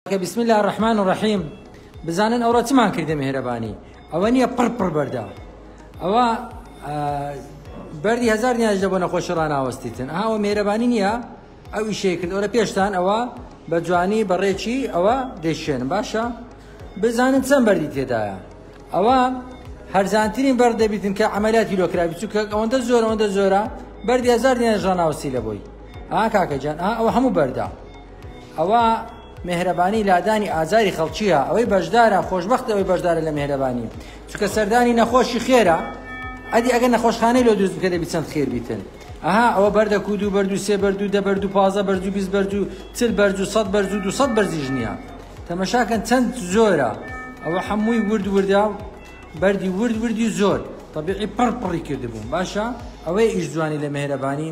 کە بسم الله الرحمن الرحیم بزانن ئەوڕۆ چمان کردە مهرەبانی ئەوە نییە پڕ پڕ بەردە ئەوە بەری هزار نیاش دەبوو نەخۆشی ڕناوەستیتن ئاوە مێرەبانی نییە ئەو ئیشەیە کرد ئەوە پێشتان ئەوە بە جوانی بەڕێکی ئەوە دەشێن باشە بزانن چەند بەردی تێدایە ئەوە هەرزانترین بەر دەبیتن کە ئەمەلاتی لۆکراوی چووکە ئەوەندە زۆر ئەوەندە زۆرە بەردی هزار نیاش ڕناوەستی لە بۆی ئا کاکەجان ئەوە هەموو بەردە ئەوە مێهرەبانی لادانی ئازاری خەڵکیە ئەوەی بەشدارە خۆشببخت ئەوەی بەشدارە لە مێهرەبانی چکە سەردانی نەخۆشی خێرە ئەدی ئەگەر نەخۆشخانەی لۆ دروست بکە دەبی چەند خێر بیتن ئەها ئەوە بەردە کو دوو بەردو سێ بەردو دە بەردو پازە بەرجو بیست بەرجو چل بەرجو سەد بەرجو دو سەد بەرزی ژنیە تەمەشاکەن چەند زۆرە ئەوە هەمووی ورد وردە بەردی ورد وردی زۆر طبیعی پڕ پڕی کردبووم باشە ئەوەی ئیش جوانی لە مێهرەبانی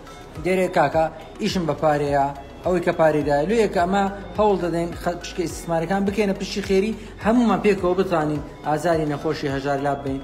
دەرێ کاکە ئیشم بە پارەیە ئەوەی کە پارەی دایە لێیە کە ئەمە هەوڵ دەدەین پشکە ئیسسمارەکان بکەینە پشتی خێری هەموومان پێکەوە بتوانین ئازاری نەخۆشی هەژار لاببەین.